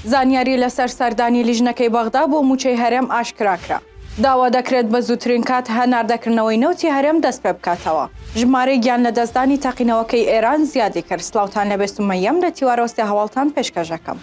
زانیاری لەسەر سەردانی لیژنەکەی بەغدا بۆ موچەی هەرێم ئاشکراکرا. داوا دەکرێت بە زووترین کات هەناردەکردنەوەی نەوتی هەرێم دەست پێ بکاتەوە. ژمارەی گیان لە دەستدانی تەقینەوەکەی ئێران زیادی کرد سلاوتان لەبێ سومەیەم لە تیوارۆستێ هەواڵتان پێشکەش دەکەم.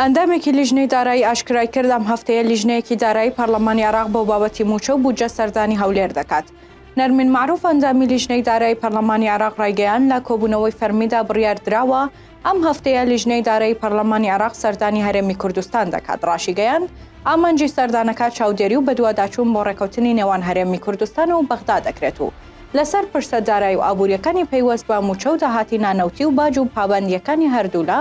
ئەندامێکی لیژنەی دارایی ئاشکرایکرد، ئەم هەفتەیە لیژنەیەکی دارایی پەرلەمانی عێراق بۆ بابەتی مووچە و بودجە سەردانی هەولێر دەکات. نەرمین مەعروف، ئەندامی لیژنەی دارایی پەرلەمانی عێراق رایگەیاند، لە کۆبوونەوەی فەرمیدا بڕیاردراوە ئەم هەفتەیە لیژنەی دارایی پەرلەمانی عێراق سەردانی هەرێمی کوردستان دەکات، راشیگەیاند، ئامانجی سەردانەکە چاودێری و بەدواداچوون بۆ رێککەوتنی نێوان هەرێمی کوردستان و بەغدا دەکرێت و لەسەر پرسە دارایی و ئابوورییەکانی پەیوەست بە مووچە و داهاتی نانەوتی و باج و پابەندییەکانی هەردوولا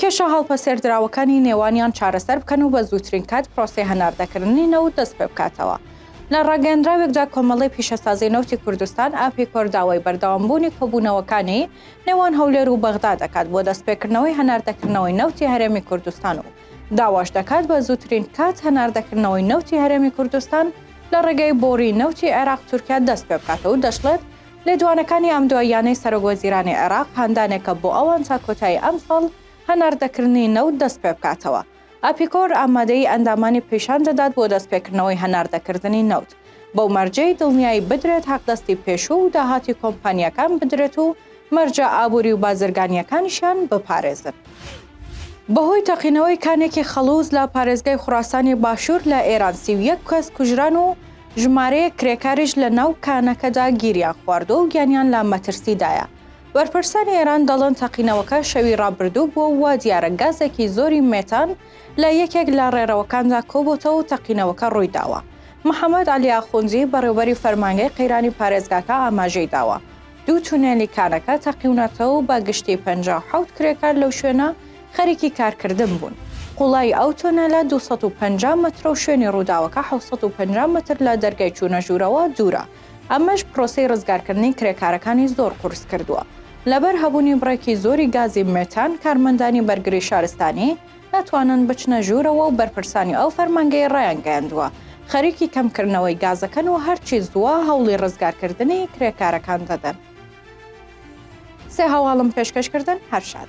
کێشە هەڵپەسێردراوەکانی نێوانیان چارەسەر بکەن و بە زووترین کات پرۆسەی هەناردەکردنی نەوت دەست پێ بکاتەوە. لە ڕاگەیەندراوێکدا کۆمەڵەی پیشەسازی نەوتی کوردستان، ئاپیکۆر، داوای بەردەوامبوونی کۆبوونەوەکانی نێوان هەولێر و بەغدا دەکات بۆ دەستپێکردنەوەی هەناردەکردنەوەی نەوتی هەرێمی کوردستان و داواش دەکات بە زووترین کات هەناردەکردنەوەی نەوتی هەرێمی کوردستان لە ڕێگەی بۆڕی نەوتی عێراق-تورکیا دەست پێ بکاتەوە و دەشڵێت لێدوانەکانی ئەم دواییانەی سەرۆک وەزیرانی عێراق هاندانێکە بۆ ئەوان تا کۆتایی ئەمساڵ هەناردەکردنی نەوت دەستپێبکاتەوە. ئاپیکۆر ئامادەیی ئەندامانی پیشان دەدات بۆ دەستپێکردنەوەی هەناردەکردنی نەوت، بەو مەرجەی دڵنیایی بدرێت حەقدەستی پێشوو و داهاتی کۆمپانیاکان بدرێت و مەرجە ئابووری و بازرگانییەکانیشیان بپارێزن. بەهۆی تەقینەوەی کانێکی خەڵوز لە پارێزگای خوراسانی باشوور لە ئێران سی و یەک کەس کوژران و ژمارەیەک کرێکاریش لە ناو کانەکەدا گیریان خواردووە و گیانیان لە مەترسیدایە. بەرپرسانی ئێران دەڵێن تەقینەوەکە شەوی رابردوو بووە و وا دیارە گازێکی زۆری مێتان لە یەکێک لە رێرەوەکاندا کۆبۆتەوە و تەقینەوەکە روویداوە. محەمەد عەلی ئاخوندی، بەڕێوبەری فەرمانگەی قەیرانی پارێزگاکە ئاماژەی داوە، دوو تونێلی کانەکە تەقیونەتەوەو بە گشتی پەنجا و حەوت کرێکار لەو شوێنە خەریکی کارکردن بوون. قوڵایی ئەو تونێلە دوو سەد و پەنجا مەترەو شوێنی رووداوەکە حەوت سەد و پەنجا مەتر لە دەرگای چوونە ژوورەوە دوورە، ئەمەش پرۆسەی رزگارکردنی کرێکارەکانی زۆر قورس کردووە. لەبەر هەبوونی بڕێکی زۆری گازی مێتان، کارمەندانی بەرگری شارستانی، ناتوانن بچنە ژوورەوە و بەرپرسانی ئەو فەرمانگەیە ڕایانگەیاندووە، خەریکی کەمکردنەوەی گازەکەن و هەرچی زووە هەوڵی ڕزگارکردنی کرێکارەکان دەدەن. سێ هەواڵم پێشکەش کردن هەر شاد.